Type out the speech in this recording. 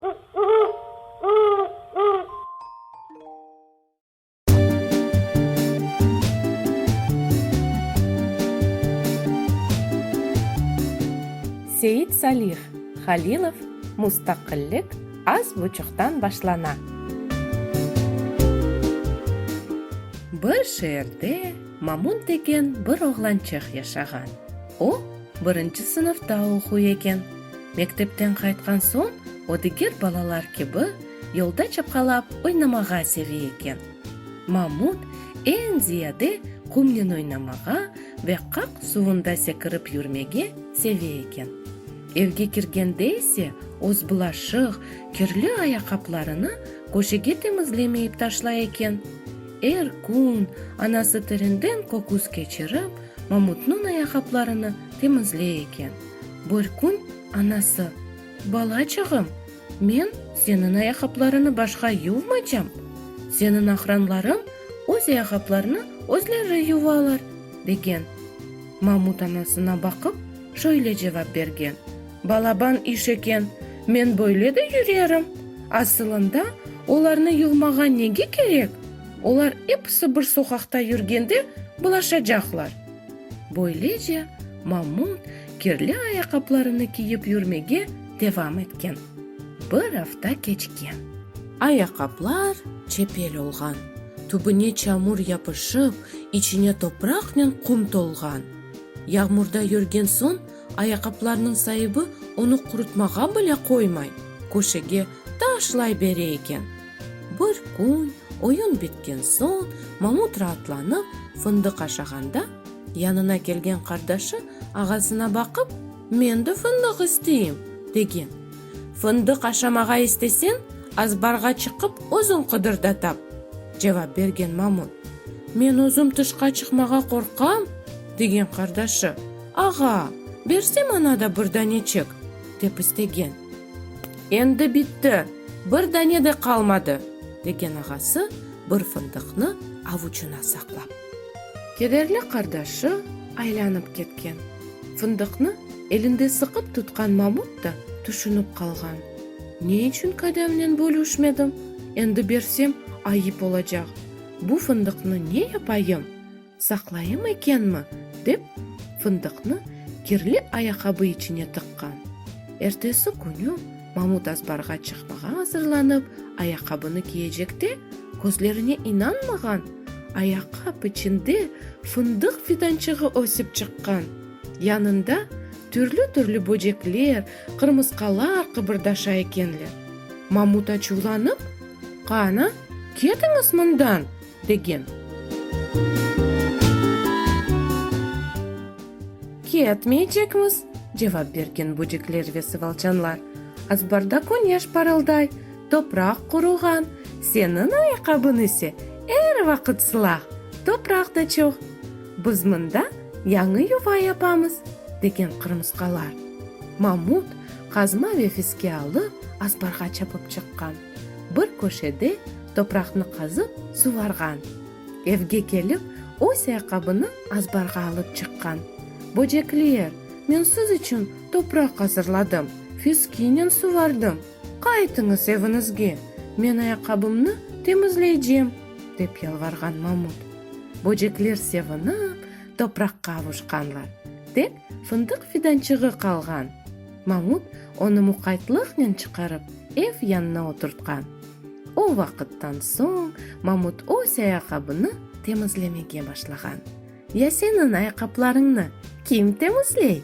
Seit Salih Halilov Mustaqillik az buçuqtan başlana. Bir şeerde Mamun degen bir oğlançıq yaşağan. O, birinci sınıfta oquy eken. Mektepten qaytqan soñ o diger balalar kibi yolda çapqalap oynamağa seve eken. Mamut eñ ziyade qumnen oynamağa ve qaq suvunda sekirip yürmege seve eken. Evge kirgende ise öz bulaşıq, kirli ayaqaplarını köşege temizlemeyip taşlay eken. Er kün anası terinden köküs keçirip, Mamutnıñ ayaqaplarını temizley eken. Bir kün anası, Balaçağım, men seniñ ayaqaplarıñı başqa yuvmacam, seniñ aqranlarıñ öz ayaqaplarını özleri yuvalar, degen. Mamut anasına baqıp, şöyle cevap bergen, Balaban iş eken, men böyle de yürerim. Asılında, olarnı yuvmağa nege kerek? Olar episi bir soqaqta yürgende bulaşacaqlar. Böylece Mamut kirli ayaqaplarını kiyip yürmege devam etken. Bir afta keçken. Ayaqaplar çepel olğan, tübüne çamur yapışıp, içine topraqnen qum tolğan. Yağmurda yürgen soñ ayaqaplarnıñ saibi onı qurutmağa bile qoymay, köşege taşlayıbere eken. Bir kün, oyun bitken soñ, Mamut raatlanıp, fındıq aşağanda, yanına kelgen qardaşı ağasına baqıp, Men de fındıq isteyim! degen. Fındıq aşamağa isteseñ, azbarğa çıqıp, özüñ qıdır da tap! cevap bergen Mamut. Men özüm tışqa çıqmağa qorqam! degen qardaşı. Ağa, berse maña da bir daneçik! dep istegen. Endi bitti, bir dane de qalmadı, degen ağası bir fındıqnı avuçına saqlap. Kederli qardaşı aylanıp ketken. Fındıqnı elinde sıqıp tutqan Mamut da tüşünip qalğan. Ne içün qadamnen bölüşmedim? Endi bersem, ayıp olacaq. Bu fındıqnı ne yapayım? Saqlayım ekenmi? dep, fındıqnı kirli ayaqabı içine tıqqan. Ertesi künü Mamut azbarğa çıqmağa azırlanıp, ayaqabını kiyecekte, közlerine inanmağan, ayaqap içinde fındıq fidançığı ösip çıqqan! Yanında türlü-türlü böcekler, qırmısqalar qıbırdaşa ekenler. Mamut açuvlanıp, Qana, ketiñiz mından! degen. Ketmeycekmiz, cevap bergen böcekler ve sıvılçanlar. Azbarda küneş parılday, topraq quruğan, seniñ ayaqabıñ ise er vaqıt sılah, topraq da çoq. Biz mında yañı yuva yapamız, degen qırmısqalar. Mamut qazma ve fiske alıp azbarğa çapıp çıqqan. Bir köşede topraqnı qazıp suvarğan. Evge kelip, öz ayaqabını azbarğa alıp çıqqan. Böcekler, men siz içün topraq azırladım, fiskinen suvardım. Qaytıñız eviñizge, men ayaqabımnı temizleycem, dep yalvarğan mamut. Böcekler sevinip, topraqqa avuşqanlar. Tek fındıq fidançığı qalğan. Mamut onı muqaytlıqnen çıqarıp, ev yanına oturtqan. O vaqıttan soñ Mamut öz ayaqabını temizlemege başlağan. Ya seniñ ayaqaplarıñnı kim temizley?